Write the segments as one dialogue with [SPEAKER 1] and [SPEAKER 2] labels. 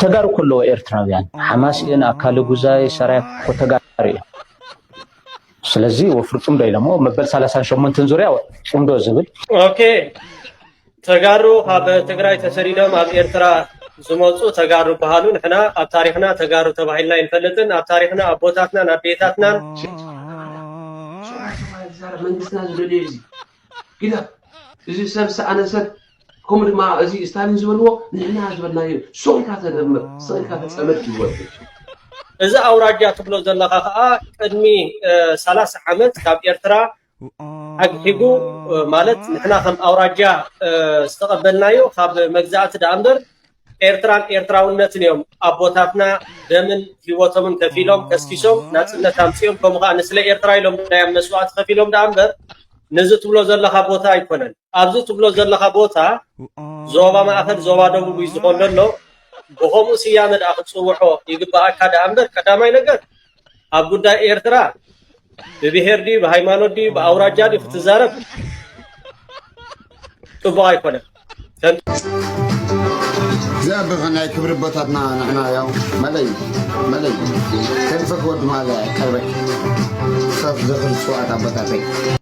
[SPEAKER 1] ተጋሩ ከለዎ ኤርትራውያን ሓማስ እየን ኣካለ ጉዛይ ሰራይ እኮ ተጋሩ እየን ስለዚ ወፍሪ ፅምዶ ኢለሞ መበል ሰላሳን ሸሞንትን ዙርያ ፅምዶ ዝብል ኦኬ
[SPEAKER 2] ተጋሩ ካብ ትግራይ ተሰዲዶም ኣብ ኤርትራ ዝመፁ ተጋሩ ይበሃሉ ንሕና ኣብ ታሪክና ተጋሩ ተባሂልና ይንፈልጥን ኣብ ታሪክና ኣቦታትናን ኣዴታትናን መንግስትና
[SPEAKER 3] ዝደልዮ እዩ ግዳ እዚ ሰብ ዝሰኣነ ሰብ ከምኡ ድማ እዚ ስታሊን ዝበልዎ ንሕና ዝበልናዮ ሱቕ ኢልካ ተደምር ስቕ ኢልካ ተፀመድ ይወድእ እዚ
[SPEAKER 2] ኣውራጃ ትብሎ ዘለኻ ከዓ ቅድሚ ሰላሳ ዓመት ካብ ኤርትራ ኣግሒቡ ማለት ንሕና ከም ኣውራጃ ዝተቐበልናዮ ካብ መግዛእቲ ደኣ እምበር ኤርትራን ኤርትራውነትን እዮም ኣቦታትና ደምን ህይወቶምን ከፊሎም ከስኪሶም ናፅነት ኣምፅኦም ከምኡ ከዓ ንስለ ኤርትራ ኢሎም ናይ መስዋእቲ ከፊሎም ደኣ እምበር ነዚ ትብሎ ዘለካ ቦታ ኣይኮነን ኣብዚ ትብሎ ዘለካ ቦታ ዞባ ማእከል ዞባ ደቡብ እዩ ዝኾን ዘሎ ብከምኡ ስያመ ደኣ ክትፅውዖ ይግበኣካ ደኣ እምበር ቀዳማይ ነገር ኣብ ጉዳይ ኤርትራ ብብሄር ድዩ ብሃይማኖት ድዩ ብኣውራጃ ድዩ ክትዛረብ ፅቡቅ ኣይኮነን እግዚአብሔር
[SPEAKER 4] ናይ ክብሪ ቦታትና ንሕና ያው መለይ መለይ ከንፈክ ወድ ማለ ቀርበክ ሰብ ዝኽሪ ስዋዕት ኣቦታተይ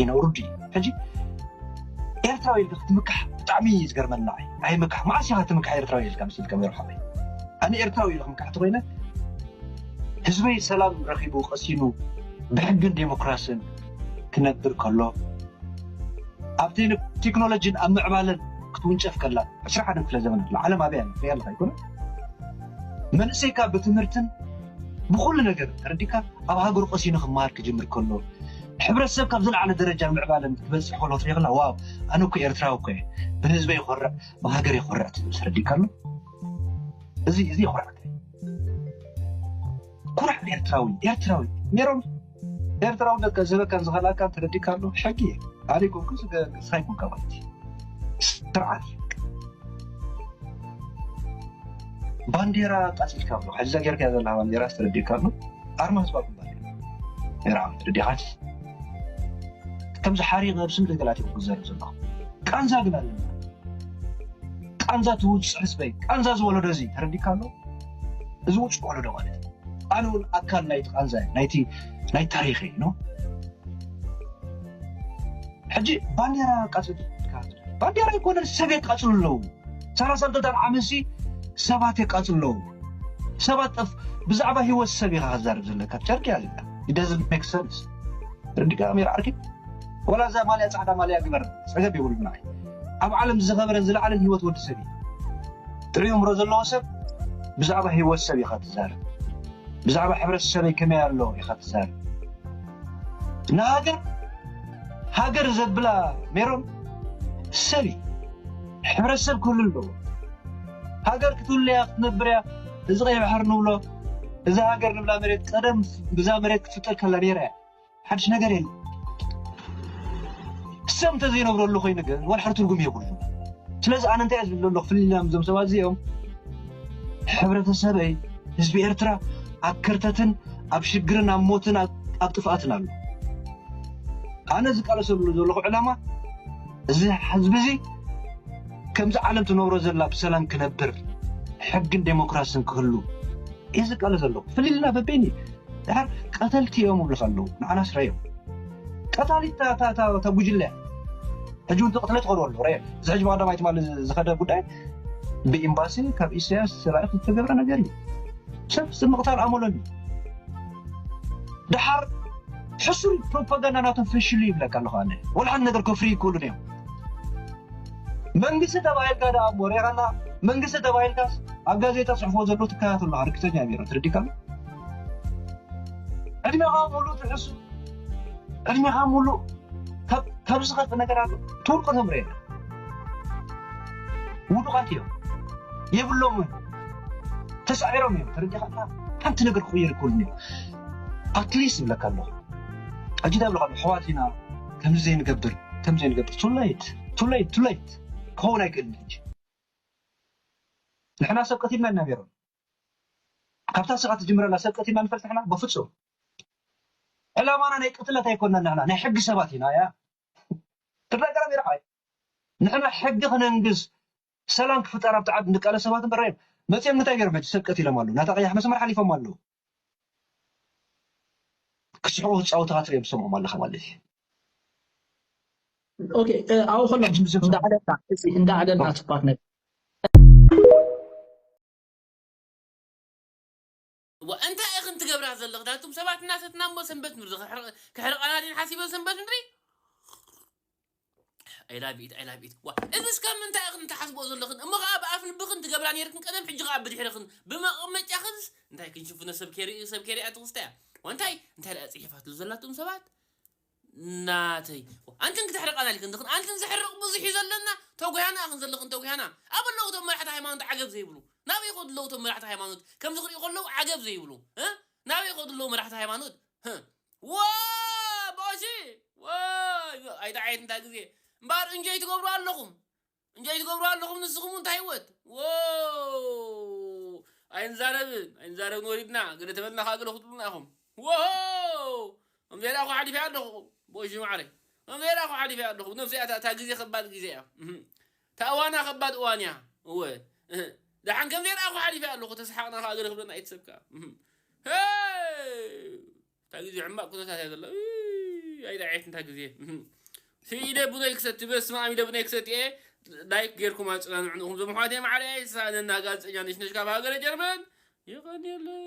[SPEAKER 5] ይነብሩ ድዩ ሕጂ ኤርትራዊ ኢልካ ክትምካሕ ብጣዕሚ እዩ ዝገርመኒ ንዓይ ኣይምካሕ መዓስ ኢኻ ትምካሕ ኤርትራዊ ኢልካ ምስ ኢልካ ሜሮሓ ኣነ ኤርትራዊ ኢሉ ክምካሕ ተኮይነ ህዝበይ ሰላም ረኺቡ ቀሲኑ ብሕግን ዴሞክራስን ክነብር ከሎ ኣብ ቴክኖሎጂን ኣብ ምዕባለን ክትውንጨፍ ከላ ዕስራ ሓደ ክፍለ ዘመን ዓለም ኣበይ ኣላ ሪኣ ኣለካ ኣይኮነ መንእሰይካ ብትምህርትን ብኹሉ ነገር ተረዲእካ ኣብ ሃገሩ ቀሲኑ ክመሃር ክጅምር ከሎ ሕብረተሰብ ካብ ዝለዓለ ደረጃን ምዕባለን ክበጽሕ ከሎ ትሪኦ ከለኻ ዋው ኣነ እኮ ኤርትራዊ እኮ እየ ብህዝበይ እኾርዕ ብሃገረይ እኾርዕ ትብል ተረዲእካ ኣሎ እዚ እዚ የኹርዓካ ኩራዕ ኤርትራዊ ኤርትራዊ ሜሮን ኤርትራውነት ዝህበካን ዝኸልኣካን ተረዲእካ ኣሎ ሕጊ እዩ ኣሪጎ ግን ዝገርግስካ ይኩንካ ማለት እዩ ስርዓት እዩ ባንዴራ ኣቃፂልካ ኣሎ ሕዚ እዛ ጌርካያ ዘለካ ባንዴራ ዝተረዲእካ ኣሎ ኣርማ ህዝባ ግንባር እዩ ነራ ተረዲእካ ከምዚ ሓሪቕ ኣብ ስም ደገላት እዩ ክዘርብ ዘለኹ ቃንዛ ግን ኣለና ቃንዛ ትውፅዕ ህዝበይ ቃንዛ ዝወለዶ እዚ ተረዲእካ ኣሎ እዚ ውጭ ወለዶ ማለት እዩ ኣነ እውን ኣካል ናይቲ ቃንዛ ናይቲ ናይ ታሪክ እዩ ኖ ሕጂ ባንዴራ ቀፅል ባንዴራ ይኮነን ሰብ የቃፅሉ ኣለዉ ሰላሳ ክልተን ዓመት ሲ ሰባት የቃፅሉ ኣለዉ ሰባት ጠፍ ብዛዕባ ሂወት ሰብ ኢካ ክዛርብ ዘለካ ጨርቂ ኣለካ ዳዝ ሜክ ሰንስ ርዲ ካሜራ ዓርኪ ወላ እዛ ማልያ ጻዕዳ ማልያ ግበር ጸገም የብሉን ንዓይ ኣብ ዓለም ዝኸበረን ዝለዓለን ሂወት ወዲ ሰብ እዩ ጥዑይ እምሮ ዘለዎ ሰብ ብዛዕባ ሂወት ሰብ ኢኻ ትዛረብ ብዛዕባ ሕብረተሰበይ ከመይ ኣሎ ኢኻ ትዛረብ ንሃገር ሃገር ዘብላ ሜሮን ሰብ እዩ ሕብረተሰብ ክህሉ ኣለዎ ሃገር ክትህሉ እያ ክትነብር እያ እዚ ቀይ ባሕሪ ንብሎ እዛ ሃገር ንብላ መሬት ቀደም ብዛ መሬት ክትፍጠር ከላ ነይራ እያ ሓድሽ ነገር የለን። ሰብ እንተዘይነብረሉ ኮይኑ ግን ወላሓደ ትርጉም የብሉን። ስለዚ ኣነ እንታይ እየ ዝብል ዘለኹ ፍልይ ኢልና ምስዞም ሰባት እዚኦም ሕብረተሰበይ ህዝቢ ኤርትራ ኣብ ከርተትን ኣብ ሽግርን ኣብ ሞትን ኣብ ጥፍኣትን ኣሎ። ኣነ ዝቃለሰሉ ዘለኹ ዕላማ እዚ ህዝቢ እዚ ከምዚ ዓለም ትነብሮ ዘላ ብሰላም ክነብር ሕግን ዴሞክራስን ክህሉ እየ ዝቃለስ ዘለኹ ፍልይ ኢልና በበይኑ ድሓር ቀተልቲ እዮም ይብሉኻ ኣለዉ ንዓናስ ረየብ ቀታሊት እታ ጉጅለ እያ ሕጂ እውን ተቕትለ ትቐርበ ኣሎ ረየብ እዚ ሕጂ ብቀዳማይ ትማሊ ዝኸደ ጉዳይ ብኤምባሲ ካብ ኢሳያስ ተላኢኹ ዝተገብረ ነገር እዩ ሰብ ስብ ምቕታል ኣመሎን እዩ ድሓር ሕሱር ፕሮፓጋንዳ ናቶም ፈሽሉ ይብለካ ኣለኹ ኣነ ወላ ሓንቲ ነገር ከፍሪ ይክእሉን እዮም መንግስቲ ተባሂልካ ደኣ እሞ ሪኢኻና መንግስቲ ተባሂልካስ ኣብ ጋዜጣ ፅሕፎ ዘሎ ትከታተሎ ርግፀኛ ቢሮ ትርዲካ ዕድሜኻ ሙሉእ ትሕሱ ዕድሜኻ ሙሉእ ካብ ዝኸፍ ነገራት ትውልቁ ተምረ የለ ውዱቓት እዮም የብሎምን ተሳዒሮም እዮም ተረዲኻ ሓንቲ ነገር ክቕየር ይክእሉን እዮም ኣትሊስት ይብለካ ኣለኹ ሕጂ እንታይ ይብለካ ኣሕዋት ኢና ከምዚ ዘይንገብር ከምዚ ዘይንገብር ቱለይት ቱለይት ቱለይት ክኸውን ኣይክእልን ሕጂ ንሕና ሰብ ቀቲልና ኢና ነይሮም ካብታ ስቃ ትጅምረላ ሰብ ቀቲልና ንፈልጥ ንሕና በፍጹም ዕላማና ናይ ቅትለት ኣይኮናን ንሕና ናይ ሕጊ ሰባት ኢና ያ ትግራይ ገረብ ይርዓይ ንሕና ሕጊ ክነንግስ ሰላም ክፍጠር ኣብቲ ዓዲ ንቃለ ሰባት እምበር ሬም መጽኦም እንታይ ገይሮም ሕጂ ሰብ ቀቲሎም ኣለዉ ናታ ቀያሕ መስመር ሓሊፎም ኣለዉ ክስሕቁ ክጻወቱ ካትሪኦም ትሰምዖም ኣለኻ ማለት እዩ
[SPEAKER 6] ኦኬ ኣብኡ ከሎም እንዳዕለልና እንዳዕለልና ትባክ ነገር
[SPEAKER 7] እዋእ እንታይ ኢኽን ትገብራ ዘለኽ ናቱም ሰባት እናሰትና እሞ ሰንበት ምድሪ ክሕርቃና ድየን ሓሲበን ሰንበት ምድሪ I love it I love it ዋ እዚስ ካብ ምንታይ ኢኽን ትሓስብኦ ዘለኽን እሞ ከኣ ብኣፍ ልብኽን ትገብራ ነይርክን ቀደም ሕጂ ከኣ ብድሕርኽን ብመቐመጫኽንስ እንታይ ክንሽፍኖ ሰብ ከይርኢ ሰብ ከይሪኣ ትኽስታያ ዋንታይ እንታይ ደኣ ጽሒፋትሉ ዘላቱም ሰባት ናተይ እኮ ኣንትን ክተሕርቃና ኢልክን ዝክን ኣንትን ዘሕርቅ ብዙሕ እዩ ዘለና ተጉያና እክን ዘለክን ተጉያና ኣበይ ኣለዉ እቶም መራሕቲ ሃይማኖት ዓገብ ዘይብሉ ናበይ ይከዱ ኣለዉ እቶም መራሕቲ ሃይማኖት ከምዚ ክሪኡ ከለዉ ዓገብ ዘይብሉ እ ናበይ ይከዱ ኣለዉ መራሕቲ ሃይማኖት ህ ዋይ ባሺ ዋይ ኣይታ ዓየት እንታይ ግዜ እምበኣር እንጆይ ትገብሩ ኣለኹም እንጆይ ትገብሩ ኣለኹም ንስኹም እንታይ ህይወት ዎው ኣይንዛረብን ኣይንዛረብን ወሪድና ገለ ተበልና ከዓ ገለ ክትብሉና ኢኹም ዎው ከምዚኣ ደኣ እኮ ሓሊፈ ኣለኹ ቦይሽ ማዕረይ ከምዚኣ ደኣ እኮ ሓሊፈ ኣለኹ ነብሲ እያ እታ ግዜ ከባድ ግዜ እያ እታ እዋና ከባድ እዋን እያ እወ ደሓን ከምዚኣ ደኣ እኮ ሓሊፈ ኣለኹ ተሰሓቕና ከዓ ገለ ክብለና ኣይትሰብ ከዓ እታ ግዜ ሕማቅ ኩነታት እያ ዘላ እይ ኣይ ዳዒት እንታ ግዜ እህ ኢደ ቡነይ ክሰቲ በስማም ኢደ ቡነይ ክሰቲ እየ ላይክ ጌርኩም ኣጸናንዑንኹም ዞም ኣሕዋተይ ማዕረይ ሳእነና ጋዜጠኛ ነሽነሽ ካብ ሃገረ ጀርመን የቀንየለይ